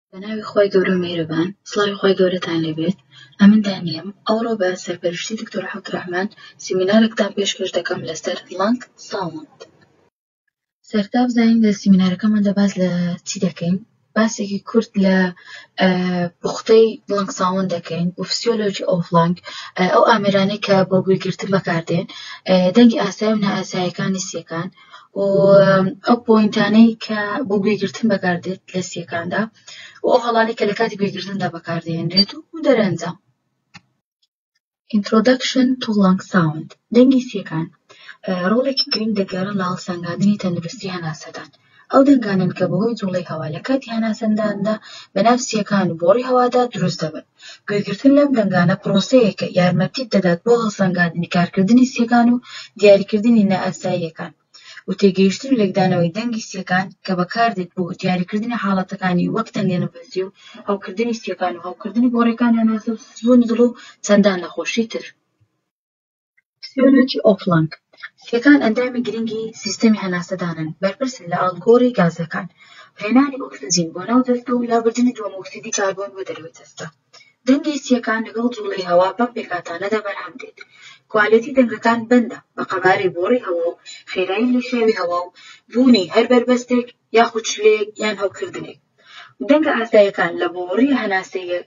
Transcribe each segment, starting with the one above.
بە ناوی خوای گەورە و میهرەبان سڵاوی خوای گەورەتان لێبێت ئەمن دانیەم ئەوڕۆ بە سەرپەرشتی دکتۆر عەبدوڕەحمان سیمینارێکتان پێشکەش دەکەم لەسەر لەنگ ساوند سەرتا بزانین لە سیمینارەکەماندا باس لە چی دەکەین باسێکی کورت لە پوختەی لەنگ ساوند دەکەین و فسیۆلۆژی ئەو لەنگ ئەو ئامرانەی کە بۆ گوێگرتن بەکاردێن دەنگی ئاسای و نائاسایەکانی سیەکان و ئەو پۆینتانەی کە بۆ گوێگرتن بەکاردێت لە سیەکاندا و ئەو هەڵانی کە لە کاتی گوێگرتندا بەکاردێنرێت و دەرەنجام Introduction to Lung Sound دەنگی سیەکان ڕۆڵێکی گرنگ دەگەرن لە هەڵسەنگاندنی تەندروستی هەناسەدان ئەو دەنگانن کە بەهۆی جوڵەی هەوا لە کاتی هەناسەنداندا بەناو سیەکان و بۆڕی هەوادا دروست دەبن گوێگرتن لەم دەنگانە پرۆسەیەکە یارمەتیت دەدات بۆ هەڵسەنگاندنی کارکردنی سییەکان و دیاریکردنی نائاساییەکان و تێگەیشتن و لێکدانەوەی دەنگی سییەکان کە بەکاردێت بۆ دیاریکردنی حاڵەتەکانی وەک تەنگەنەفەسی و هەوکردنی سییەکان و هەوکردنی گۆڕیەکان هەناسە و سزبوونی دڵ و چەندان نەخۆشی تر. سیۆنەکی ئۆفڵەنگ، سیەکان ئەندامی گرنگی سیستەمی هەناسەدانن، بەرپرسن لە ئاڵوگۆڕی گازەکان، هێنانی ئۆکسجین بۆ ناو جەستە و لابردنی دووەمۆکسیدی کاربۆن بۆ دەرەوەی جەستە. دەنگی سیەکان لەگەڵ جوڵەی هەوا بەم پێکهاتانەدا بەرهەم دێت. کوالێتی دەنگەکان بەندە بە قەبارەی بۆڕی هەوا و خێرایی لێشاوی هەوا و بوونی هەر بەربەستێک، یاخود چلەیەک یان هەوکردنێک. دەنگە ئاساییەکان لە بۆڕییە هەناسەییە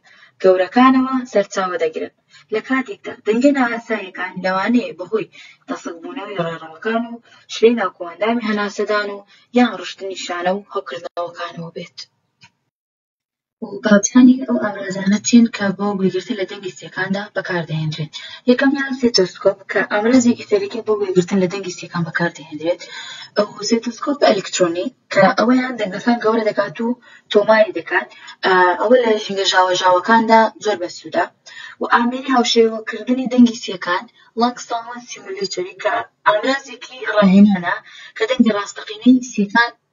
گەورەکانەوە سەرچاوە دەگرن، لە کاتێکدا دەنگە نائاساییەکان لەوانەیە بەهۆی تەسکبوونەوەی ڕێڕەوەکان و چلەی ناوکۆئەندامی هەناسەدان و یان ڕشتنی شانە و هەوکردنەوەکانەوە بێت. و باوجانی ئەو ئامرازانە چین کە بۆ گوێگرتن لە دەنگی سیەکاندا بەکاردەهێنرێت یەکەمیان سێتۆسکۆپ کە ئامرازێکی فێرەکە بۆ گوێگرتن لە دەنگی سیەکان بەکاردەهێنرێت ئەو سێتۆسکۆپ ئەلکترۆنی کە ئەوەیان دەنگەکان گەورە دەکات و تۆماری دەکات ئەوە لە ژینگە ژاوەژاوەکاندا زۆر بەسوودە و ئامێری هاوشێوەکردنی دەنگی سیەکان لەنگ ساوند سیمولەیتۆری کە ئامرازێکی ڕاهێنانە کە دەنگی ڕاستەقینەی سیەکان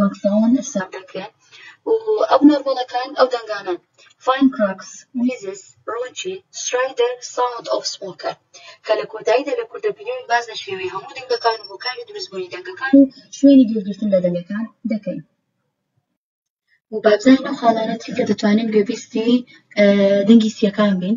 لۆکداون ئەفسار دەکرێن و ئەو نۆرمەڵەکان ئەو دەنگانەن فاین کراکس میزس ڕۆچی سترایدەر ساوند ئۆف سمۆکەر کە لە کۆتاییدا لە کوردە ڤیدیۆیەک باس لە شێوەی هەموو دەنگەکان و هۆکاری دروستبوونی دەنگەکان و شوێنی گوێگرتن لە دەنگەکان دەکەین و بابزانین ئەو خاڵانە چین کە دەتوانین گوێبیستی دەنگی سییەکان بین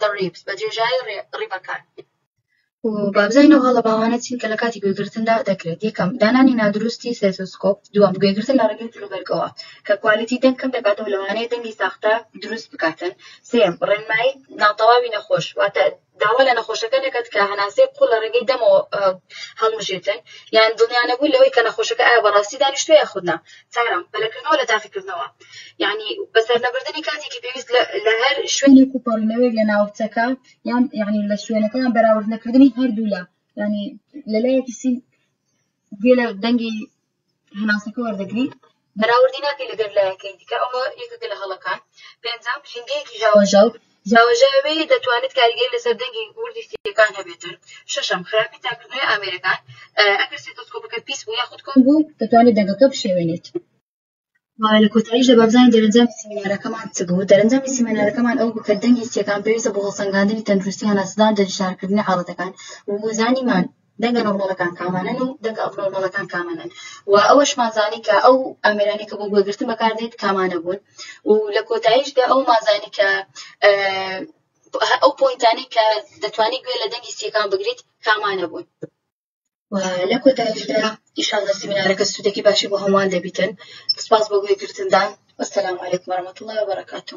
The ribs بە درێژایی ڕیبەکان. و بابزین ئەو هەڵە باوانە چین کە لە کاتی گوێگرتندا دەکرێت یەکەم دانانی نادروستی سێتۆسکۆپ دووەم گوێگرتن لە ڕێگەی جلوبەرگەوە کە کوالیتی دەنگ کەم دەکاتەوە لەوانەیە دەنگی ساختە دروست بکاتن سێم ڕێنمایی ناتەواوی نەخۆش واتە داوا لە نەخۆشەکە نەکات کە هەناسەی قوڵ لە ڕێگەی دەمەوە هەڵمژێتن یان دڵنیانەبوو لەوەی کە نەخۆشەکە ئایا بەڕاستی دانیشتوە یاخودنا چارم پەلەکردنەوە لە تاقیکردنەوە یعنی بەسەرنەبردنی کاتێکی پێویست لە هەر شوێنێک و پەڕینەوەی لە ناوچەکە یان یعنی لە شوێنەکەیان بەراورد نەکردنی هەردوولا ینی لەلایەکی سین گوێ لە دەنگی هەناسەکە وەردەگری بەراوردی ناکەی لەگەر لایەکەی دیکە ئەوە یەکەکە لە هەڵەکان پێنجام ژینگەیەکی ژاوەژاو ژاوەژاوێ دەتوانێت کاریگەری لەسەر دەنگی وردی سیەکان هەبێتن شەشەم خراپی تاکردنەوەی ئامێرەکان ئەگەر سێتۆسکۆپەکە پیس بوو یاخود کۆن بوو دەتوانێت دەنگەکە بشێوێنێت لە کۆتاییشدا بابزانین دەرەنجامی سیمینارەکەمان چ بوو دەرەنجامی سیمینارەکەمان ئەو بوو کە دەنگی سیەکان پێویستە بۆ هەڵسەنگاندنی تەندروستی هەناسەدان دەشارکردنی حاڵەتەکان وزانیمان دەنگە نۆرمەڵەکان کامانن و دەنگە ئەبنۆرمەڵەکان کامانن و ئەوەشمان زانی کە ئەو ئامرانی کە بۆ گوێگرتن بەکاردێت کامانە بوون و لە کۆتاییشدا ئەو مازانی کە ئەو پۆینتانی کە دەتوانانی گوێ لە دەنگی سیەکان بگریت کامانە بوون. و لە کۆتایشدا ئیشانە سیمینارەکە سوودێکی باشی بۆ هەمووان دەبیتن سپاس بۆ گوێگرتندان وەسەلام علیکم وەرەمەتوڵای وبرکاتو